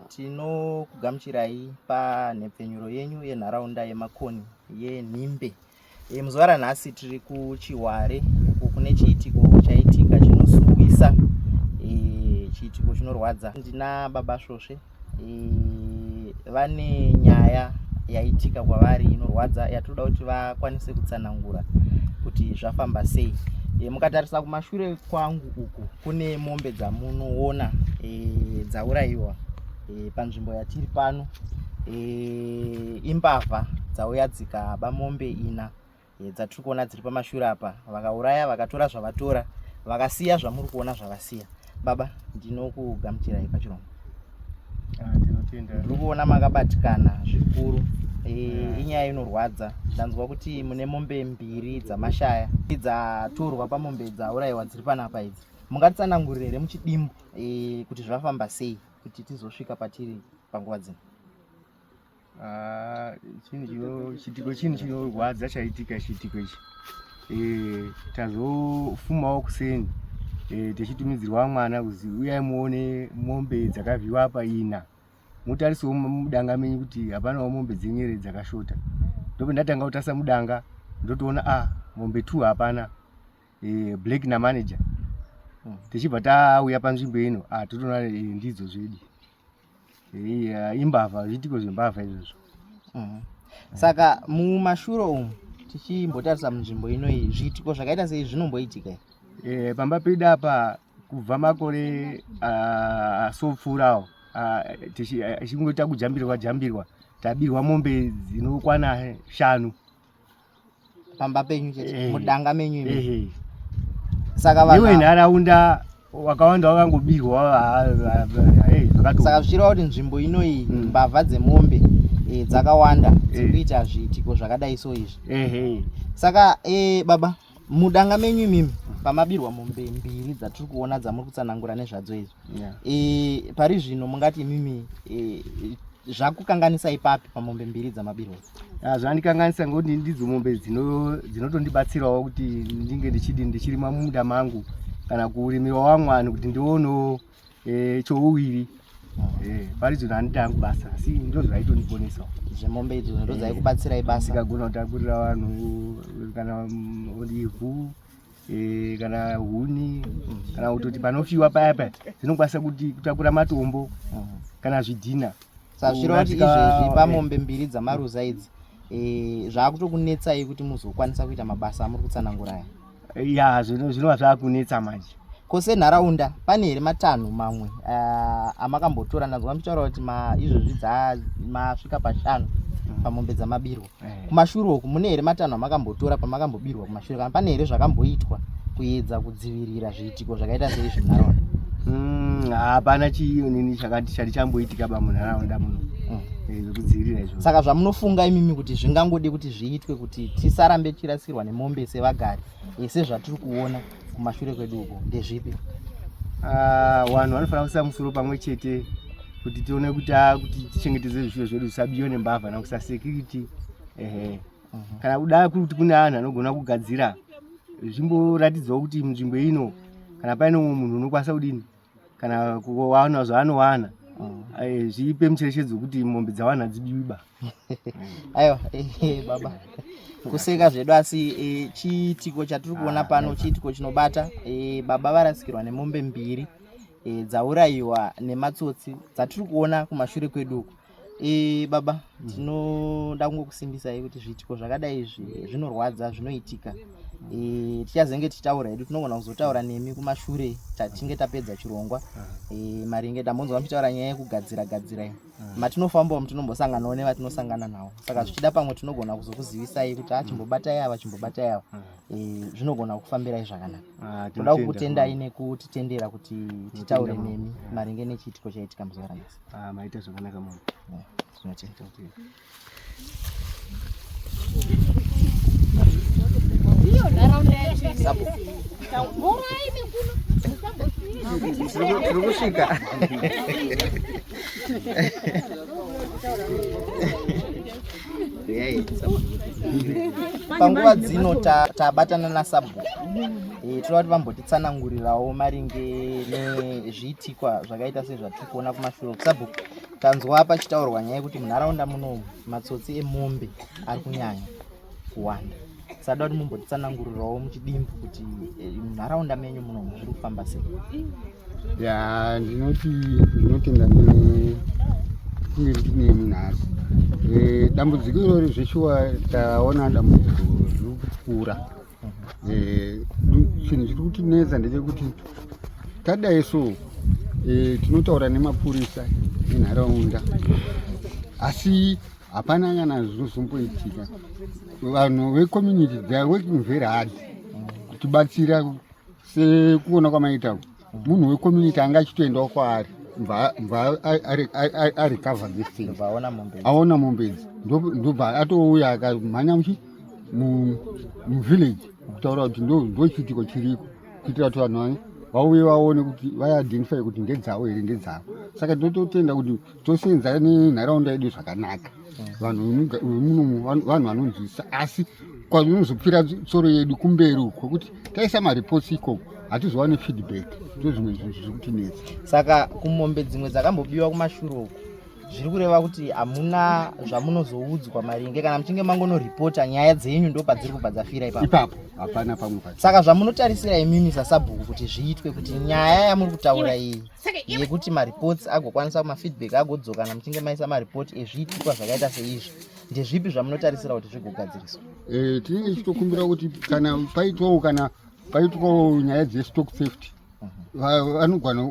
Tinokugamuchirai panhepfenyuro yenyu yenharaunda yemakoni yenhimbe. E, muzuva ranhasi tiri kuChihware uko kune chiitiko chaitika chinosuwisa e, chiitiko chinorwadza. Ndina baba Svosve e, vane nyaya yaitika kwavari inorwadza yatinoda kuti vakwanise kutsanangura kuti zvafamba sei. E, mukatarisa kumashure kwangu uku kune mombe dzamunoona e, dzaurayiwa e, panzvimbo yatiri pano e, imbavha dzauya dzikaba mombe ina e, dzatiri kuona dziri pamashura apa vakauraya vakatora zvavatora vakasiya zvamuri kuona zvavasiya baba ndinokugamuchirai pachirombo ah, tinotenda ndiri kuona makabatikana zvikuru eh, inyaya inorwadza ndanzwa kuti mune mombe mbiri dzamashaya dzatorwa pamombe dzaurayiwa dziri panapa idzi mungatsanangurire here muchidimbu eh, kuti zvafamba sei kuti tizosvika patiri panguva dzino Ah, chiitiko chinhu chinorwadza chaitika chiitiko ichi eh, tazofumawo kuseni eh, tichitumidzirwa mwana kuzi uyai muone mombe dzakavhiwa apa ina mutarisewo mudanga menyu kuti hapanawo mombe dzenyere dzakashota ndope ndatanga kutarisa mudanga ndotoona a ah, mombe two hapana eh, black namanager hmm. tichibva tauya panzvimbo ino ah, totoona ndidzo zvedi Yeah, imbavha zviitiko zvembavha izvozvo mm. saka mumashuro umu tichimbotarisa munzvimbo inoyi zviitiko zvakaita sei zvinomboitika e, pamba pedu apa kubva makore asopfuurawo tichingoita kujambirwa jambirwa tabirwa mombe dzinokwana shanu pamba penyu chete eh. mudanga menyu imi eh, eh. saka vanhu iwe nharaunda wakawanda wakangobirwa saka zvichireva kuti nzvimbo inoyi hmm. mbavha dzemombe dzakawanda dziri kuita zviitiko zvakadai so izvi saka baba mudanga menyu imimi pamabirwa mombe mbiri dzatiri kuona dzamuri kutsanangura nezvadzo izvo yeah. e, pari zvino mungati imimi e, zvakukanganisa ipapi pamombe mbiri dzamabirwa ah, zvandikanganisa ngokuti ndidzo mombe dzinotondibatsirawo kuti ndinge ndichidi ndichirima mumunda mangu kana kurimirawo vamwani kuti ndionewo eh chouviri eh paridzo ndandita yangu basa asi ndozvaitondiponesa zvemombe idzo ndo dzaikubatsirai basa ndikagona kutakurira vanhu kana olivhu eh, kana huni kana kutoti panofiwa paya paya dzinokwanisa kuti kutakura matombo kana zvidhina sazvirova kuti izvezvi pamombe mbiri dzamaruza idzi eh, zvaakutokunetsai kuti muzokwanisa kuita mabasa amuri kutsananguraya ya zvinova zvakunetsa manje ko senharaunda pane here matanho mamwe uh, amakambotora ndanzwa muchitaura kuti izvozvi masvika pashanu mm. pamombe dzamabirwa eh. kumashure uku mune here matanho amakambotora pamakambobirwa kumashure kana pane here zvakamboitwa kuedza kudzivirira zviitiko zvakaita seizvi munharaunda mm, hapana mm, chiinini chati chamboitika bamunharaunda muno mm. eh, zvekudzivirira izvo saka zvamunofunga imimi kuti zvingangodi kuti zviitwe kuti kuti tisarambe tichirasirwa nemombe sevagari ese zvatiri kuona kumashure kwedu uko ndezvipi ah, vanhu vanofanira kuisa musoro pamwe chete kuti tione kuti ah, kuti tichengetedze zvifuyo zvedu zvisabiwe nembavha nakusa security ehe mhm. kana kuda kuti kune anhu anogona kugadzira zvimboratidzawo kuti nzvimbo ino kana paine mumwe munhu unokwanisa kudini kana kuwana zvaanowana mm. eh, zvipe mucherechedzo wekuti mombe dzawana hadzibiwiba aiwa eh, eh, baba kuseka zvedu asi e, chiitiko chatiri kuona ah, pano chiitiko chinobata e, baba varasikirwa nemombe mbiri e, dzaurayiwa nematsotsi dzatiri kuona kumashure kwedu uku e, baba mm. tinoda mm. kungokusimbisai kuti zviitiko zvakadai izvi zvinorwadza zvinoitika e, tichazenge tichitaura hedu tinogona kuzotaura nemi kumashure tatinge tapedza chirongwa e, maringe tambonzwa muchitaura nyaya yekugadzira gadzira iyi mm. matinofambawo mutinombosanganawo nevatinosangana nawo saka zvichida pamwe tinogona kuzokuzivisai kuti a ah, chimbobatai ava chimbobatai ava e, zvinogona kufambirai zvakanaka ah, toda kukutendai nekutitendera kuti titaure nemi maringe nechiitiko chaitika muzuva ranhasi Ah, maita zvakanaka mama. Ah, Zvinacheka kuti. Iyo nharaunda yacho. Sapo. Mvura ine kuno. Tiri kusvika. panguva dzino tabatana ta nasabhuku e, eh, tinoda kuti vambotitsanangurirawo maringe nezviitikwa zvakaita sezvati kuona kumashure kusabhuku tanzwa pachitaurwa nyaya yekuti munharaunda muno matsotsi emombe ari kunyanya kuwanda sada kuti mumbotitsanangurirawo muchidimbu kuti eh, munharaunda menyu muno zviri kufamba sei ya ndinoti ndinotenda kunge ndine munhasi eh, dambudziko irori zveshuwa taona dambudziko zviri kukura eh, chinhu chiri kutinetsa ndechekuti tadai so eh, tinotaura nemapurisa enharaunda asi hapana kana zvinozomboitika vanhu vecommunity theyare working very hard kutibatsira sekuona kwamaita munhu wecommunity anga achitoendawo kwaari mva arecover this thing aona mombe idzi ndobva atouya akamhanya muchi muvillage kutaura kuti ndochiitiko chiriko kuitira kuti vanhu vauye vaone kuti vaiidentify kuti ndedzavo here ndedzavo saka ndototenda kuti tosenza nenharaunda yedu zvakanaka vanhu munomu vanhu vanonzwisisa asi kwanozopfira tsoro yedu kumberi uko kuti taisa mareports ikoko hatizowani feedback ndozvimwe zvinhu zviri kutinetsa saka kumombe dzimwe dzakambobiwa kumashuro uko zviri kureva kuti hamuna zvamunozoudzwa maringe kana muchinge mangonoripota nyaya dzenyu ndo padziri kubva dzafira ipapo ipapo hapana pamwe pa saka zvamunotarisira imimi sasabhuku kuti zviitwe kuti nyaya yamuri kutaura iyi yekuti mareports agokwanisa mafeedback agodzokana muchinge maisa mareport ezviitikwa zvakaita seizvi ndezvipi zvamunotarisira kuti zvigogadziriswa eh, tinenge tichitokumbira kuti kana paitwawo kana paitwawo nyaya dzestock safety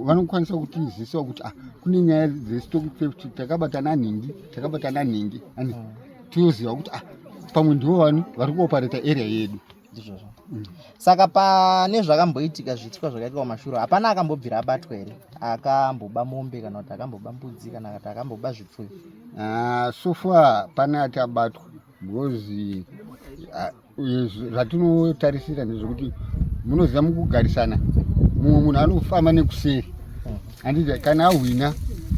vanokwanisa kutizisa kuti ah, kune nyaya dzestock safety takabatana nhingi takabatana nhingi ani mm. tioziva kuti ah, pamwe ndivo vanu vari kuopareta area yedu ndizvozvo mm. saka pane zvakamboitika zviitwa zvakaitwa kumashuro hapana akambobvira abatwa here akamboba mombe kana kuti akamboba mbudzi kana kuti akamboba zvipfuyo ah, sofa pane ati abatwa because ah, zvatinotarisira ndezvekuti munoziva mukugarisana mumwe munhu anofamba nekuseri handiti kana ahwina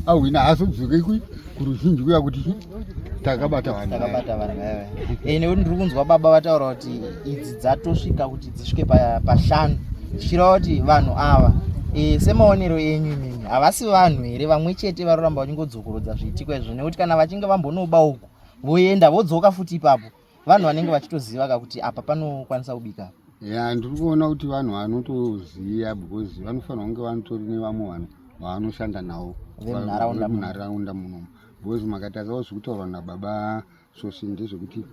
ahwina haazodzoke kuruzhinji kuya kuti takabata vanhutakabata vanhu ewe eh, eh, nekuti ndiri kunzwa baba vataura kuti idzi dzatosvika kuti dzisvike pashanu zvichireva kuti vanhu ava eh, semaonero enyu imimi havasi vanhu here vamwe chete varoramba vachingodzokorodza zviitiko izvo nekuti kana vachinge vambonoba uku voenda vodzoka futi ipapo vanhu vanenge vachitoziva ka kuti apa panokwanisa kubika ya ndiri kuona kuti vanhu vanotoziva because vanofanira kunge vanotori nevamwe vanhu vavanoshanda navo vemunharaunda muno because makatadzawo zvekutaurwa nababa sosi ndezvekuti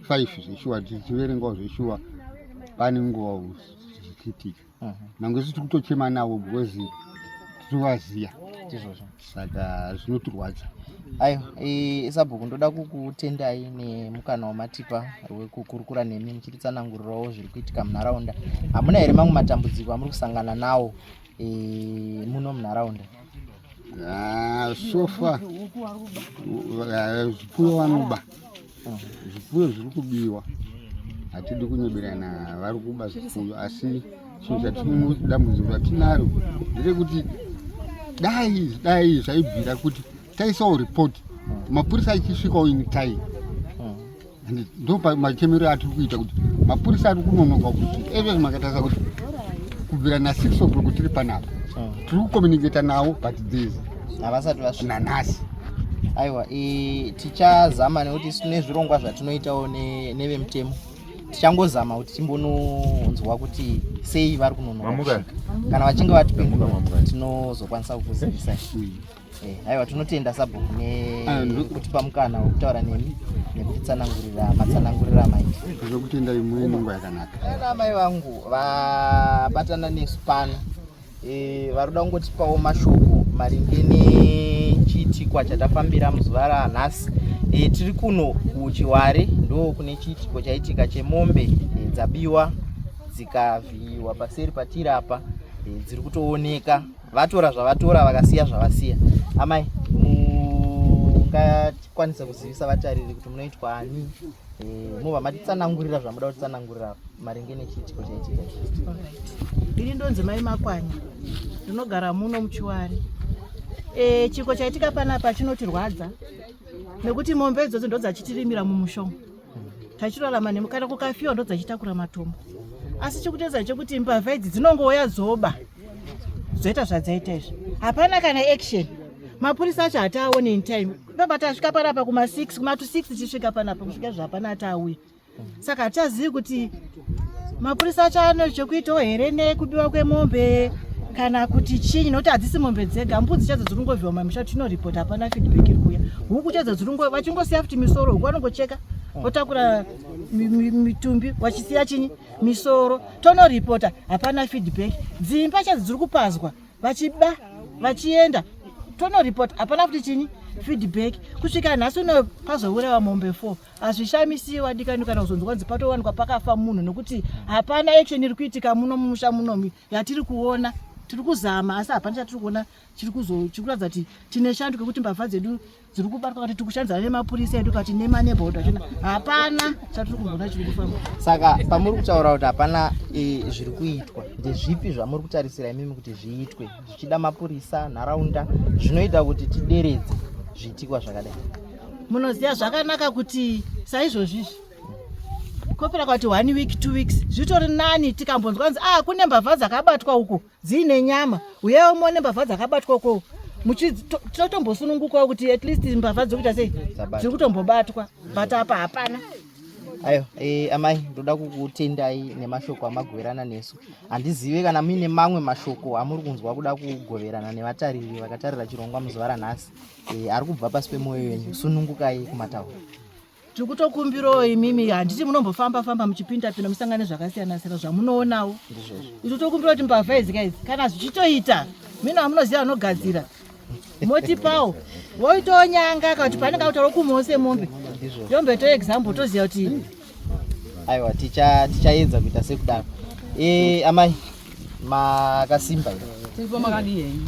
five zveshuwa tichiverengawo zveshuwa pane nguva zvichitika nyange isu tiri kutochema navo because tinovaziva izvozvo saka zvinotirwadza aiwa isabhuku ndoda kukutendai nemukana wamatipa wekukurukura nemi muchititsanangurirawo zviri kuitika munharaunda hamuna here mamwe matambudziko amuri kusangana nawo e, muno munharaunda ah, sofa zvipfuyo vanoba Zvipfuyo zviri kubiwa, hatidi kunyeberana, vari kuba zvipfuyo asi chinhu chatidambudziko ratinaro nderekuti dai dai zvaibvira kuti taisawo report mapurisa achisvikawo in time and ndo machemero atiri kuita kuti mapurisa ari kunonoka kuti every makatarisa kuti kubvira na six o'clock tiri panapa tiri kucommunicata navo but there's havasati vasvika nanhasi aiwa tichazama nekuti tine zvirongwa zvatinoitawo nevemutemo tichangozama kuti timbononzwa kuti sei vari kunonoka kana vachinge vatipindura tinozokwanisa kukuzivisai eh, aiwa tinotenda sabhuku nekutipa ah, mukana wekutaura nemi nekutitsanangurira matsanangurira amaita zvekutenda imweni nguva yakanaka eh, amai vangu vabatana nesu pano Eh, vari kuda kungotipawo mashoko maringe nechiitikwa chatafambira muzuva ranhasi e, eh, tiri kuno kuchiware ndo kune chiitiko chaitika chemombe e, dzabiwa dzikavhiyiwa paseri patiri apa e, dziri kutooneka vatora zvavatora vakasiya zvavasiya amai mungatikwanisa kuzivisa vatariri kuti munoitwa ani Eh, mova matitsanangurira zvamuda kutsanangurira maringe nechiitiko chaitika ini ndonzi mai makwanya ndinogara muno muchiwari eh, chiko chaitika panapa chinotirwadza nekuti mombe idzodzo ndodzachitirimira mumushonga tachirarama nemukana kukafiwa ndodzachitakura matombo asi chikutedza chekuti mbavha idzi dzinongouya dzoba zvoita zvadzaita izvi hapana kana action mapurisa acho hataaone in time ndoba tasvika panapa kuma 6 kuma to 6 tichisvika panapa kusvika izvi hapana ataauya saka hatichazivi kuti mapurisa acho ano chekuitawo here nekubiwa kwemombe kana kuti chinyi nokuti hadzisi mombe dzega mbudzi chadzo dziri kungovhiwa mamisha tinoripota hapana feedback iri kuya huku chadzo dziri vachingosiya futi misoro huku vanongocheka votakura mitumbi vachisiya chinyi misoro tono reporter hapana feedback dzimba chadzi dziri kupazwa vachiba vachienda tono reporter hapana kuti chini feedback kusvika nhasi uno pazourawa mombe four hazvishamisiyi wadikani kana kuzonzwa kunzi patowanikwa pakafa munhu nokuti hapana action iri kuitika muno mumusha munomi yatiri kuona tiri kuzama asi hapana chatiri kuona chiri kuratidza kuti tine shando kekuti mbavha dzedu dziri kubatwa kuti tikushandidzana nemapurisa edu kati nemaneboda chona hapana chatiri kumbona chiri kufamba saka pamuri kutaura kuti hapana e, zviri kuitwa ndezvipi zvamuri kutarisira imimi kuti zviitwe zvichida mapurisa nharaunda zvinoita kuti tideredze zviitikwa zvakadai munoziva zvakanaka kuti saizvozvizvi kopera kwati one week two weeks zvitori nani tikambonzwa nzi ah kune mbavha dzakabatwa uko dziine nyama uyewo muone mbavha dzakabatwa uko muchitotombosunungukawo kuti at least mbavha dzokuita sei dziri kutombobatwa but apa hapana ayo e, amai ndoda kukutendai nemashoko amagoverana nesu handizive kana muine mamwe mashoko amuri kunzwa kuda kugoverana nevatariri vakatarira chirongwa muzuva ranhasi e, ari kubva pasi pemwoyo yenyu sunungukai kumataura tiri kutokumbirawo imimi handiti munombofamba famba muchipinda pinda musangane zvakasiyana siyana zvamunoonawo izvo tokumbira kuti mbavha idzi kaizi kana zvichitoita mina vamunoziva vanogadzira motipawo woitawo nyanga kakuti panenge kutaura kumawo semombe yombe to example toziva kuti aiwa tichaedza kuita sekudaro e, amai makasimba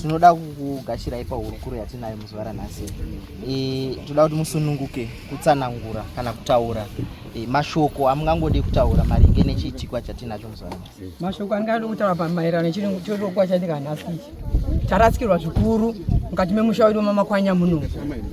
tinoda kukugashirai pahurukuro yatinayo muzuva ranhasi e, toda kuti musununguke kutsanangura kana kutaura e, mashoko amungangode kutaura maringe nechiitikwa chatinacho muzuva ranhasi mashoko andingade kutaura pamaererano chirokwa chatika nhasi ichi tarasikirwa zvikuru mukati memusha wedu wemamakwanya muno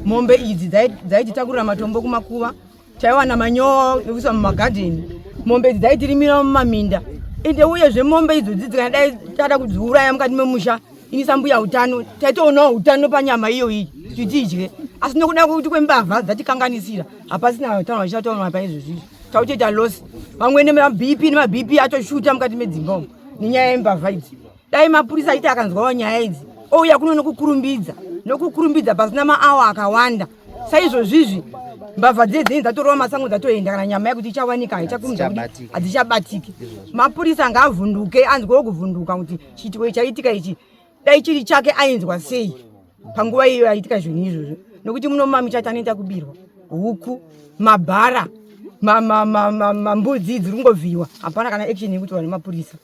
mombe idzi dzaititakurira matombo kumakuva taiwana manyowa nekuisa mumagadheni mombe idzi dzaitirimira mumaminda ende uyezve mombe idzo dzidzi kana dai tada kudziuraya mukati memusha ini sambuya utano taitoonawo utano panyama iyo iyi kuti tidye asi nokuda kuti kwembavha dzatikanganisira hapasina utano vachitatonwa paizvozvizvi tautoita loss vamwene mabp nemabp atoshuta mukati medzimba umu nenyaya yembavha idzi dai mapurisa aiti akanzwawo nyaya idzi ouya kuno nokukurumbidza nokukurumbidza pasina maawa akawanda saizvozvizvi mbavha dziye dzinenge dzatorowa masango dzatoenda kana nyama yakuti ichawanika haichakurumidza kuti hadzichabatiki mapurisa ngaavhunduke anzwewo kuvhunduka kuti chiitiko ichaitika ichi dai chiri chake ainzwa sei panguva iyo yaitika zvinhu izvozvo nokuti muno mumamichati anoita kubirwa huku mabhara mambudzi dziri kungovhiyiwa hapana kana action yekutorwa nemapurisa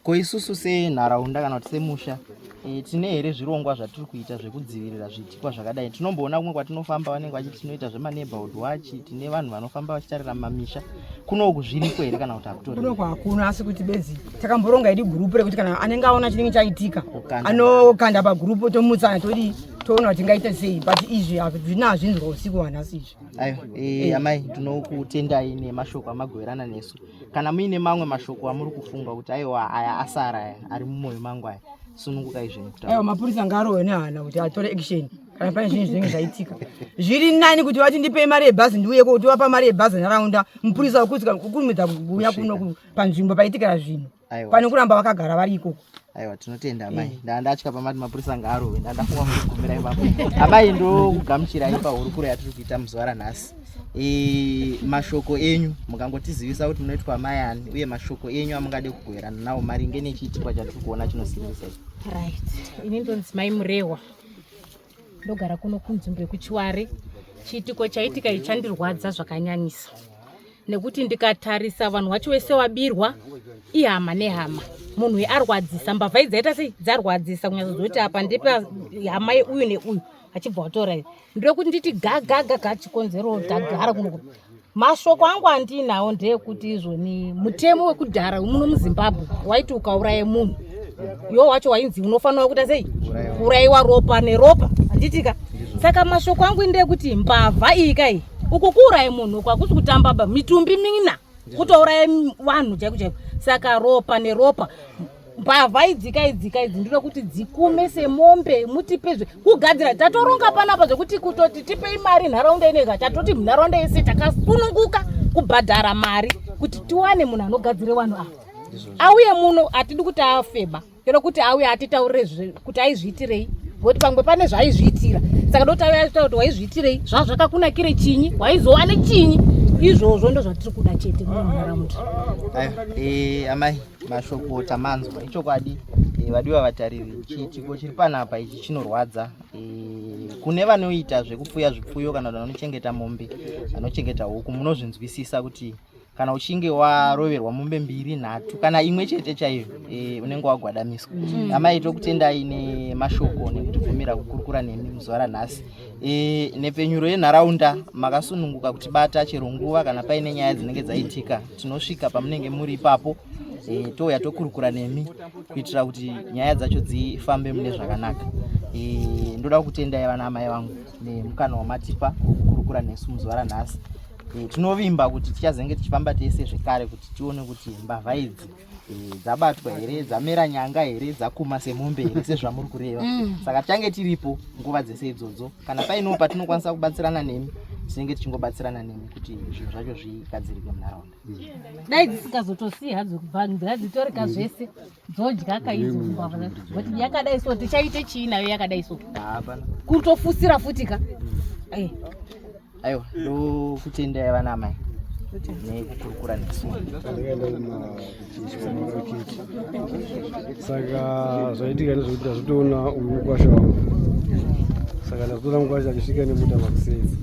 Ko isusu senharaunda kana kuti semusha e, tine here zvirongwa zvatiri kuita zvekudzivirira zviitikwa zvakadai? Tinomboona kumwe kwatinofamba vanenge vachiti tinoita zvemaneighborhood watch, tine vanhu vanofamba vachitarira mamisha. Kuno uku zviriko here kana kuti hakutori? Kuno hakuna, asi kuti benzi takamboronga idi gurupu rekuti kana anenge aona chinenge chaitika anokanda pagurupu tomutsana todii toona kuti tingaita sei but izvi hazvina hazvinzwa usiku wanhasi izvi. Ayo, e, amai tinokutendai nemashoko amagoverana nesu. kana muine mamwe mashoko amuri kufunga kuti aiwa aya asara aya ari mumwoyo mangu aya sunungukai zvenyu aiwa mapurisa ngarowe nehana kuti atore action kana pane zvinhu zvinenge zvaitika zviri nani kuti vati ndipei mari yebhazi ndiuye kuti wapa mari yebhazi nharaunda mupurisa wekuti kukurumidza kuuya kuno panzvimbo paitikira zvinhu pane kuramba vakagara vari ikoko aiwa tinotenda amai eh. ndaa ndatya pamati mapurisa ngaarove ndaa ndafunga kugumira ipapo amai ndokugamuchirai pahurukuro yatiri kuita muzuva ranhasi eh, mashoko enyu mukangotizivisa kuti munoitwa amai ani uye mashoko enyu amungade kugoverana nawo maringe nechiitikwa chatiri kuona chinosiririsa ichi right ini ndonzi mai murehwa ndogara kuno kunzvimbo yekuchiware chiitiko chaitika ichi chandirwadza zvakanyanyisa nekuti ndikatarisa vanhu wacho wese wabirwa ihama nehama munhu uyu arwadzisa mbavha idzaita sei dzarwadzisa kunyaza zoti apa ndepa hama yeuyu neuyu achibva watora iyo ndiri kuti nditi gagagaga chikonzero gagara kuno mashoko angu andiinawo ndeekuti izvoni mutemo wekudhara wemuno muzimbabwe waiti ukauraye munhu iwo wacho wainzi unofanira kuita sei kuurayiwa ropa neropa handitika saka mashoko angu indeekuti mbavha iyi kai uku kuuraye munhu uku hakusi kutambaba mitumbi mina kutouraye vanhu chaiko chaiko saka ropa neropa mbavha idzika idzika idzi ndinoda kuti dzikume semombe mutipezve kugadzira tatoronga panapa zvekuti kutoti tipei mari nharaunda inoiga tatoti munharaunda yese takasununguka kubhadhara mari kuti tiwane munhu anogadzire vanhu ava auye muno hatidi kuti afeba kero kuti auye atitaurire kuti aizviitirei ngokuti pamwe pane zvaizviitira saka ndoti auye atitaura kuti waizviitirei zvaa zvakakunakire chinyi waizova nechinyi izvozvo ndozvatiri kuda chete munharaunda eh, amai mashoko tamanzwa ichokwadi e, vadiwa vatariri chiitiko chiri panapa ichi chinorwadza e, kune vanoita zvekupfuya zvipfuyo kana kuti vanochengeta mombe vanochengeta huku munozvinzwisisa kuti kana uchinge waroverwa mombe mbiri nhatu kana imwe chete chaiyo e, unenge wagwadamiswa mm. amai tokutendai nemashoko nekutibvumira kukurukura nemi muzuva ranhasi e, nhepfenyuro yenharaunda makasununguka kuti bata chero nguva kana paine nyaya dzinenge dzaitika tinosvika pamunenge muri ipapo e, touya tokurukura nemi kuitira kuti nyaya dzacho dzifambe mune zvakanaka e, ndoda kutendai vana amai vangu nemukana wamatipa wokukurukura nesu muzuva ranhasi e, tinovimba kuti tichazenge tichifamba tese zvekare kuti tione kuti mbavha idzi Eh, dzabatwa here dzamera nyanga here dzakuma semombe here sezvamuri kureva mm. saka tichange tiripo nguva dzese idzodzo kana painoo patinokwanisa kubatsirana nemi tinenge tichingobatsirana nemi kuti zvinhu zvacho zvigadzirike munharaunda mm. dai dzisikazotosii hadzo kubvangira dzitorika mm. zvese dzodya kaizoti yakadai so tichaite chii nayo yakadai so kutofusira futi ka eh. aiwa ndokutendai vana amai nekukurukura nesaka zvaitika nezvekuti azvitoona uyu mukwasha wangu saka ndazotora mukwasha achisvika nemuta makusezi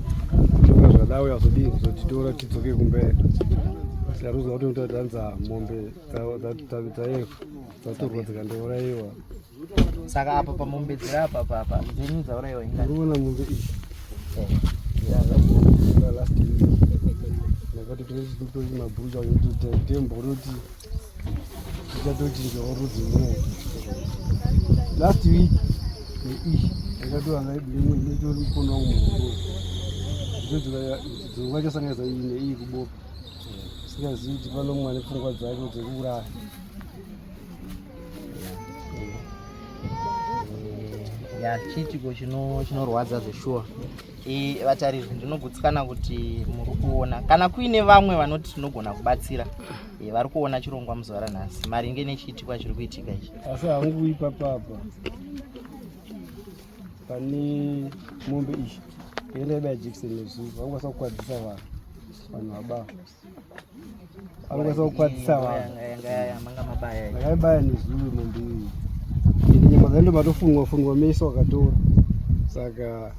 toka zvadawe azodii kuzotitora tidzoke kumberi tikaruza kuti mutatanza mombe dzaiva dzatorwa dzikandouraiwa saka apa pamombedzera apa papa dzenyu dzauraiwa ingaiona mombe iyi ndakati tinechitotoi mabhurucha kuti tembo unoti tichatochinjawo rudzi moo last week neishi ndakatoanga iblimwe inetori mukona wangu muhoro dzonga chasangaisa iyi neiyi kuboka singazivi kuti pano mwana pfungwa dzake dzekuuraya ya chiitiko chinorwadza zveshuwa vatariri ndinogutsikana kuti muri kuona kana kuine vamwe vanoti tinogona kubatsira vari kuona chirongwa muzuva ranhasi maringe nechiitikwa chiri kuitika ichi asi hangu ipapapa pane mombe ichi yenda yaiba yajekiseni yezuva vakukwanisa kukwadzisa vanhu vanhu vabafa angazokwatisa vakaibaya nezuru mandii ende nyama dzaendo matofunwa funwa mese wakatora saka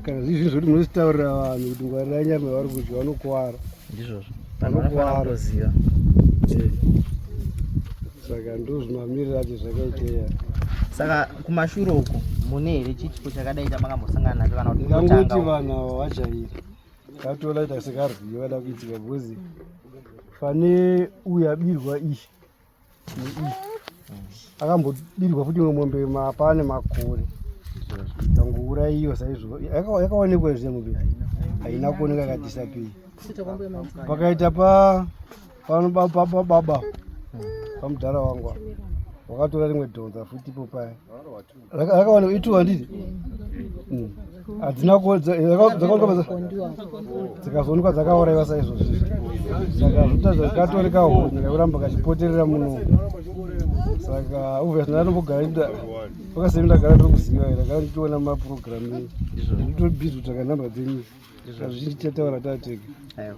kana zvii zvinhu zvoti munozvitaurira vanhu kuti ngwarira nyama yavari kudya vanokuvara ndizvozvo vanokuvara saka ndozvinoamirira acho zvakaiteya saka kumashure uko mune here chichipo chakadai chamanga mosangana nacho kana kuti ndangoti vanhu ava vajairi katola ita sekarwiyo kana kuitika bhozi pane uyu abirwa iyi neiyi akambobirwa futi imwe mombe mapaa nemakore kangouraiwa saizvo yakaonekwa zviya mombe haina haina kuoneka kadisapei pakaita pa panobababa pamudhara wangu wakatora rimwe dhonza futi ipo paya rakawana kuitiwa handiti hmm. hadzina dzakazoonekwa dzakauraiwa saizvozvi saka zvoita zvakatoreka honye kakuramba kachipoterera muno saka obvious ndanombogara ita vakasemi ndagara ndiri kuziva here kana ndichiona maprogramu nditobhizi kutsvaka nhamba dzenyu zvazvichataura tatega eh,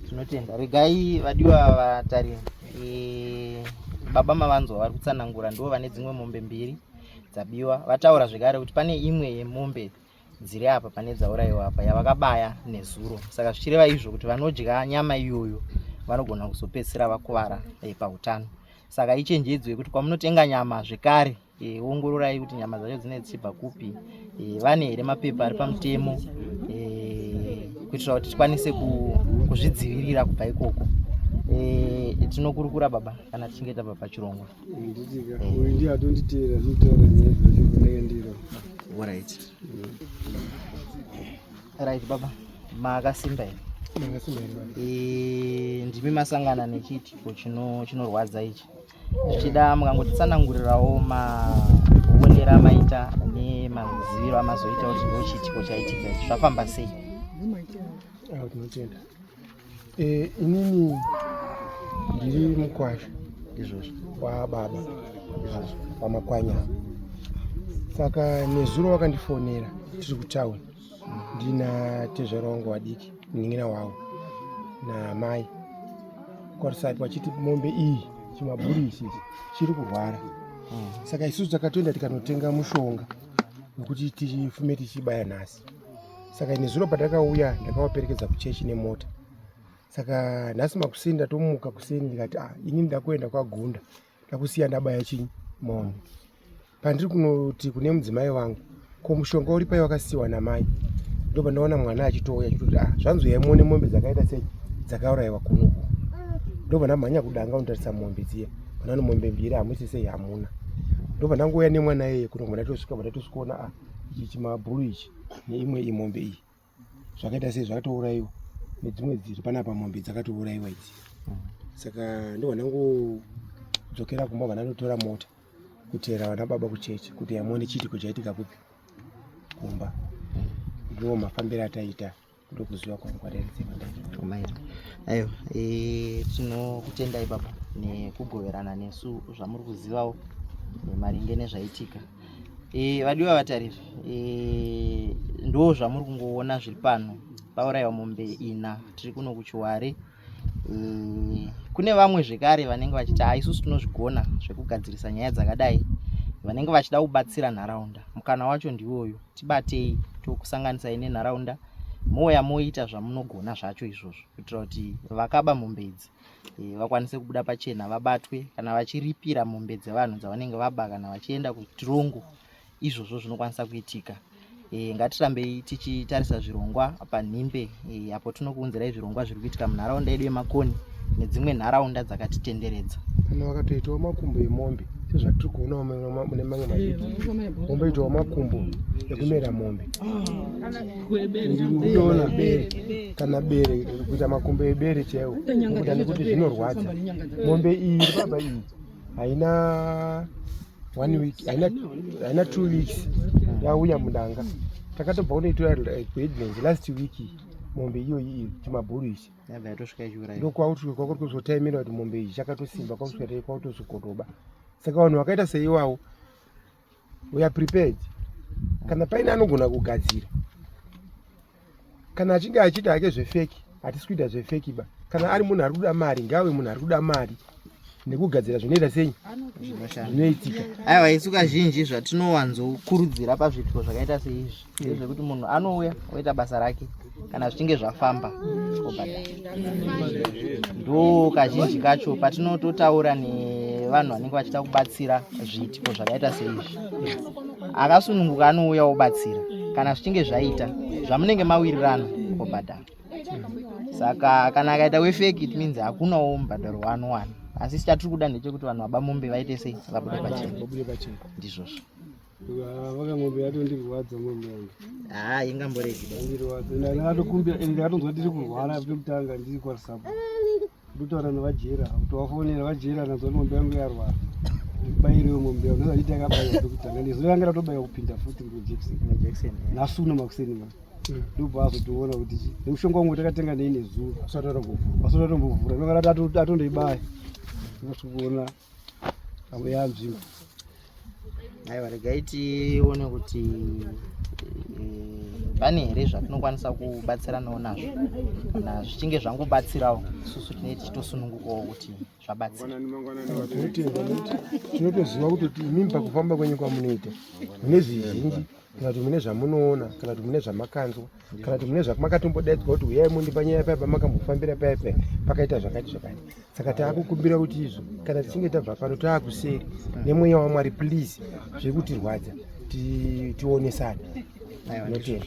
tinotenda regai vadiwa vatarira eh, baba mavanzwa vari kutsanangura ndivo vane dzimwe mombe mbiri dzabiwa vataura zvekare kuti pane imwe yemombe dziri apa pane dzaurayiwa apa yavakabaya nezuro saka zvichireva izvo kuti vanodya nyama iyoyo vanogona kuzopedzisira vakuvara eh, pautano saka ichenjedzo yekuti kwamunotenga nyama zvekare e, ongororai kuti nyama dzacho dzine tsibva kupi e, vane here mapepa ari pamutemo e, kuitira kuti tikwanise kuzvidzivirira kubva ikoko e, tinokurukura baba kana tichinge tabva pachirongwa right right baba makasimba here ndimi masangana nechiitiko chinorwadza ichi zvichida mukangotitsanangurirawo maonero amaita nemaziviro amazoita kuti ndo chiitiko chaitika ichi zvafamba sei ah, tinotenda eh, inini ndiri mukwasha izvozvo wababa izvozvo wamakwanya saka nezuro wakandifonera tiri kutauni ndina tezvara wangu wadiki munin'ina wangu naamai kwarisati vachiti mombe iyi chimaburi ichi chiri kurwara mm. saka isusu takatoenda tikanotenga mushonga wekuti tifume tichibaya nhasi saka ine zuro patakauya ndakavaperekedza kuchechi nemota saka nhasi makuseni ndatomuka kuseni ndikati ah, ini ndakuenda kwagunda mm. ndakusiya ndabaya chinyi mom pandiri kunoti kune mudzimai wangu ko mushonga uri pai wakasiyiwa namai ndoba ndaona mwana achitouya achitoti ah zvanzi uyai muone mombe dzakaita sei dzakaurayiwa kunoku ndoba ndamhanya kudanga unotarisa mombe dziya manano mombe mbiri hamusi sei hamuna ndoba ndangouya nemwana iyeye kuno mwana tosvika mwana tosvikaona ah ichi chimabhuru ichi neimwe imombe iyi zvakaita sei zvakatourayiwa nedzimwe dziri panapa mombe dzakatourayiwa idzi saka ndihwa ndangodzokera kumba vana ndotora mota kuteera vana baba kuchechi kuti yamone chiitiko chaitika kupi kumba ndiwo mafambiro ataita ndokuziva kwangu kwataitsemandaomaira ayo e, tinokutendai baba nekugoverana nesu zvamuri kuzivawo maringe nezvaitika e, vadiwa vatari e, ndo zvamuri kungoona zviri pano pauraiwa mombe ina tiri kuno kuchiware e, kune vamwe zvekare vanenge vachiti ha isusu tinozvigona zvekugadzirisa nyaya dzakadai vanenge vachida kubatsira nharaunda mukana wacho ndiwoyo tibatei tokusanganisai nenharaunda mouya moita zvamunogona zvacho izvozvo kuitira kuti vakaba mombe idzi eh, vakwanise kubuda pachena vabatwe kana vachiripira mombe dzevanhu dzavanenge vaba kana vachienda kutirongo izvozvo zvinokwanisa kuitika eh, ngatirambei tichitarisa zvirongwa panhimbe eh, apo tinokuunzirai zvirongwa zviri kuitika munharaunda yedu yemakoni nedzimwe nharaunda dzakatitenderedza kana vakatoitawo makumbo emombe sezvatiri kuonawo mune mamwe maombe itawo makumbo ekumera mombe ah. ndikutoona bere kana bere kuita makumbo ebere chaiwo kuita nekuti zvinorwadza mombe iyi iri pamba iyi haina one week haina two weeks yauya mudanga takatobva kunoitora kuedlands eh, last week mombe iyoyi iyi chimabhuru ichi ndokwakutosvika kwakuri kuzotaimira kuti mombe iyi chakatosimba kwakusvika tai kwakutozokotoba saka vanhu vakaita seiwawo we are prepared kana paine anogona kugadzira kana achinge achiita hake zvefeki hatisi kuita zvefeki ba kana ari munhu ari kuda mari ngaave munhu ari kuda mari nekugadzira zvinoita sei zvinoitika aiwa isu kazhinji zvatinowanzokurudzira pazviitiko zvakaita seizvi ndezvekuti munhu anouya oita basa rake kana zvichinge zvafamba obhadhara ndo kazhinji kacho patinototaura nevanhu vanenge vachida kubatsira zviitiko zvakaita seizvi akasununguka anouya obatsira kana zvichinge zvaita zvamunenge mawirirana obhadhara saka kana akaita wefeki it means hakunawo mubhadharo waanowana asi chatiri kuda ndechekuti vanhu vabamombe vaite sei vabude pachena ndizvozvo vakamombe yatondirwadza mombe yangu haa ingamboregi ndirwadza ndakatokumbira ende ndakatonzwa ndiri kurwara pekutanga ndiri kwasapo ndotaura navajera kutovafonera vajera nanzwa kuti mombe yangu yarwara bairiwe mombe yangu ndozanditi yakabaira pekutanga nezuva yanga ratobaya kupinda futi ngojekiseni nasuno makuseni ma mm. ndobva azotoona kuti nemushonga wangu takatenga nei nezuva asati atombovhura ndokarati atondoibaya ndosikuona Abuya nzvimbo. Aiwa regai tione kuti eh, pane here zvatinokwanisa kubatsiranawo nazvo kana zvichinge zvangobatsirawo isusu tinee tichitosunungukawo kuti zvabatsira tinotoziva kuti imimi pakufamba kwenyu kwamunoita mune zvizhinji kana kuti mune zvamunoona kana kuti mune zvamakanzwa kana kuti mune zvakumakatombodaidza kuti uyai mundipa nyaya paya pamakambofambira paya paya pakaita zvakati zvakati saka taakukumbira kuti izvo kana tichinge tabva pano taakuseri nemweya wamwari please zviri kutirwadza tionesane notenda